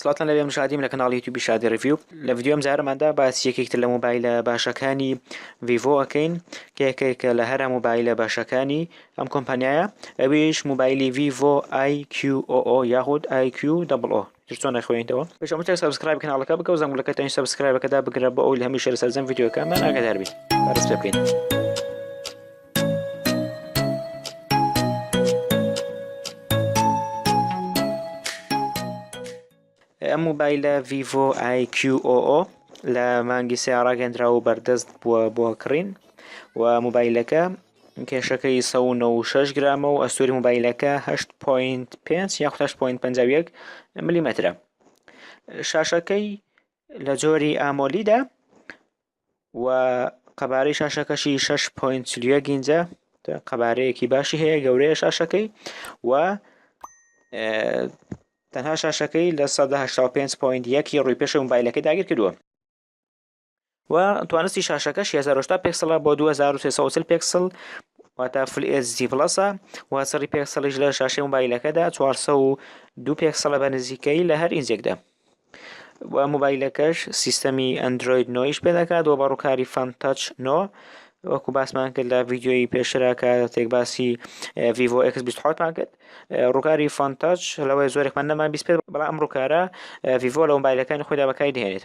سڵاوتان لەبێ من شادیم لە کەناڵی یوتیوبی شادی ڕیڤیو لە ڤیدیۆ ئەم جارەماندا باسی یەکێک تر لە مۆبایلە باشەکانی ڤیڤۆ ئەکەین کە یەکێکە لە هەرە مۆبایلە باشەکانی ئەم کۆمپانیایە ئەویش مۆبایلی ڤیڤۆ IQOO یاخود IQOO چۆن نەخوێنیتەوە پێش هەموو شتێک سەبسکرایب کەناڵەکە بکە و زەنگولەکە تەنیش سەبسکرایبەکەدا بگرە بۆ ئەوی هەمیشە لە سەرجەم ڤیدیۆکەمان ئاگادار بی بەڕێز پێ بکەین ئەم موبایلە ڤیڤۆ IQOO لە مانگی سێ ڕاگەندرا و بەردەست بووە بۆ کڕین و موبایلەکە کێشەکەی 1996 گرامە و ئەستوری موبایلەکە 8.5 یا 8.5 ملیمەترە شاشەکەی لە جۆری ئامۆلیدا و قەبارەی شاشەکەشی 6.31 ئینجە قەبارەیەکی باشی هەیە گەورەیە شاشەکەی و تەنها شاشەکەی لە 1970.1 ڕووی پێشە موبایلەکەی داگیر کردووە و توانستی شاشەکە 1600 پێکسڵە بۆ 2340 پێکسل واتە فل ئێزی جی پلەسە و سەری پێکسڵیش لە شاشەی موبایلەکەدا 402 پێکسڵە بە نزیکەی لە هەر ئینجێکدا و موبایلەکەش سیستەمی ئەندرۆید نۆیش پێ دەکات و بە ڕووکاری فان تاچ نۆ وەکو باسمان کرد لە ڤیددیۆی پێشرا کاتێک باسی ڤیڤۆ ئکس 24مان کرد ڕووکاری فان تاچ لەوەی زۆرێکمان نەمان بیست بێت بەڵام ئەم ڕووکارە ڤیڤۆ لە موبایلەکانی خۆیدا بەکاری دەهێنێت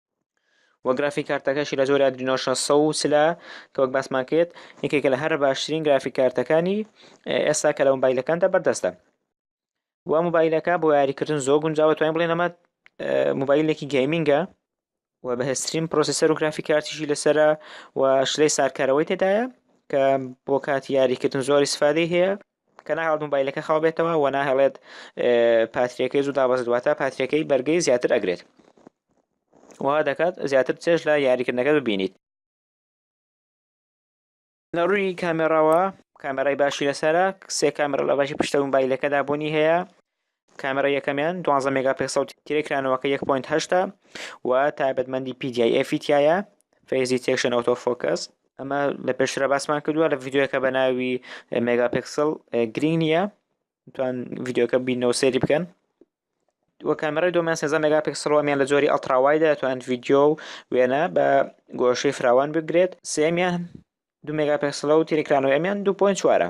و گرافیک کارتەکەشی لە جۆری ئەدرینۆ 600 لە کە وەک باسمان کرد یەکێکە لە هەرە باشترین گرافیک کارتەکانی ئێستا کە لە مۆبایلەکاندا بەردەستە و مۆبایلەکە بۆ یاریکردن زۆر گونجاوە توانین بڵێن ئەمە مۆبایلێکی گەیمینگە و بەهێزترین پرۆسیسەر و گرافیک کارتیشی لەسرە و شلەی سارکارەوەی تێدایە کە بۆ کاتی یاریکردن زۆری سفادەی هەیە کە ناهێڵێت موبایلەکە خاو بێتەوە و ناهێڵێت پاتریەکەی زوو دابەزێت واتە پاتریەکەی بەرگەی زیاتر ئەگرێت وا دەکات زیاتر چێژ لە یاریکردنەکە ببینیت لە ڕووی کامێراوە کامێرای باشی لەسرە سێ کامێرا لە باشی پشتە موبایلەکەدا بوونی هەیە کامێرای یەکەمیان دوانزە مێگا پێکسەڵ و تیرەی کرانەوەکە یەک پۆینت هەشتە و تایبەتمەندی پی دی ئای ئێفی تیایە فەیس دیتێکشن ئۆتۆ فۆکەس ئەمە لە پێشترە باسمان کردووە لە ڤیددیوەکە بە ناوی مێگا پێکسڵ گرینگ نییە توان ڤیددیوەکە بینەوە سێری بکەن وە کامێرای دۆمیان سێزە مێگا پێکسڵەوەمیان لە جۆری ئەڵتراوایدا توانند ڤیددیو و وێنە بە گۆشەی فراوان بگرێت سێمیان دو مێگا پێکسڵە و تیرکرانەوە ئەمیان دوپۆین چوارە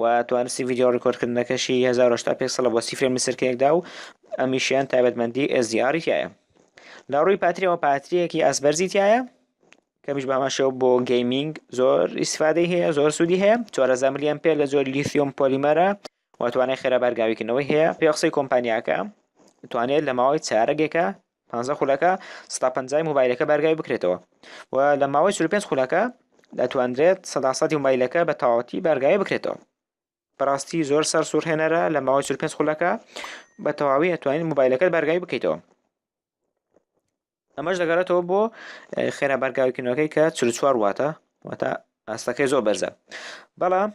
و توانستی ڤیدیۆ ڕیکۆردکردنەکەشی هەزار و هەشتا پێکسڵە بۆ سی فرێم لە سەرکەیەکدا و ئەمیشیان تایبەتمەندی SDR تایە لە ڕووی پاتریەوە پاتریەکی ئاسبەرزی تایە کەمیش باماشەوە بۆ گەیمینگ زۆر ئیسفادەی هەیە زۆر سوودی هەیە چوارەزا ملیان پێ لە زۆر لیسیۆم پۆلیمەرە و توانای خێرا بارگاویکردنەوەی هەیە پێ قسەی کۆمپانیاکە توانێت لە ماوەی چارەگێکە پانزە خولەکە سەدا پەنجای موبایلەکە بارگاوی بکرێتەوە و لە ماوەی چل پێنج خولەکە دەتواندرێت سەدا سەدی موبایلەکە بە تەواوەتی بارگاوی بکرێتەوە بەڕاستی زۆر سەر سوورهێنەرە لە ماوەی چل پێنج خولەکە بە تەواوی ئەتوانین موبایلەکەت بارگاوی بکەیتەوە ئەمەش دەگەڕێتەوە بۆ خێرا بارگاویکردنەوەکەی کە چل چوار واتە واتە ئاستەکەی زۆر بەرزە بەڵام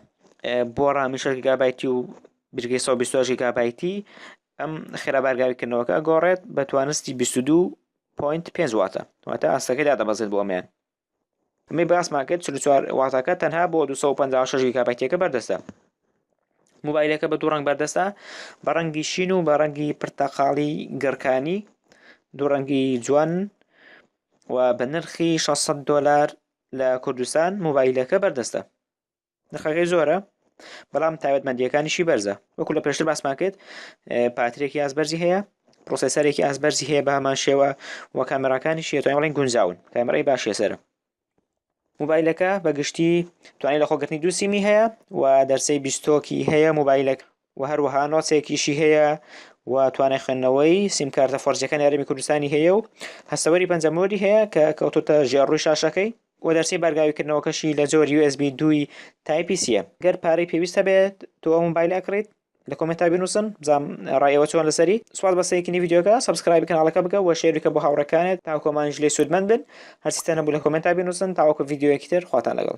بۆ ڕامی شەش گیگابایتی و بژگەی 120 گیگابایتی ئەم خێرابارگاوی کردنەوەکە ئەگۆڕێت بە توانستی 22.5 واتە واتە ئاستەکەی دادەبەزێت بۆ ئەمیان ئەمەی باسمان کرد 44 واتەکە تەنها بۆ 256 گیگابایتەکە بەردەستە موبایلەکە بە دوو ڕنگ بەردەستە بە ڕەنگی شین و بە ڕەنگی پرتەقاڵی گڕکانی دوو ڕەنگی جوان و بە نرخی 600 دلار لە کوردستان موبایلەکە بەردەستە نرخەکەی زۆرە بەڵام تایبەتمەندیەکانیشی بەرزە وەکو لە پێشتر باسمان کرد پاترێکی یاز بەرزی هەیە پرۆسسەرێکی ئاز بەرزی هەیە بە هەمان شێوە و کامێراکانی شێتوان بڵین گونجاون کامێرای باشە سەر موبایلەکە بەگشتی توانای لە خۆگرتنی دووسیمی هەیە و دەرسەی بیستۆکی هەیە موبایلەکە و هەروەها نۆسێکیشی هەیە و توانای خوێندنەوەی سیمکارتە فۆرجەکانی هەرێمی کوردستانی هەیە و هەستەوەری پەنجەمۆری هەیە کە کەوتوتە ژێر ڕووی شاشەکەی و دەرچەی بارگاویکردنەوەکەشی لە جۆر USB دووی تایپی سیە گەر پارەی پێویست هەبێت تۆ ئەو مۆبایلە ئەکڕیت لە کۆمێنتا بنووسن بزانم ڕای ئێوە چۆن لەسەری سوپاس بە سەیرکردنی ڤیدیۆکە سەبسکرایبی کەناڵەکە بکە و شێری بکە بۆ هاوڕێکانت تاکو ئەوانیش لێی سوودمەند بن هەرچیتان هەبوو لە کۆمێنتا بنووسن تاوەکو ڤیدیۆیەکی تر خواتان لەگەڵ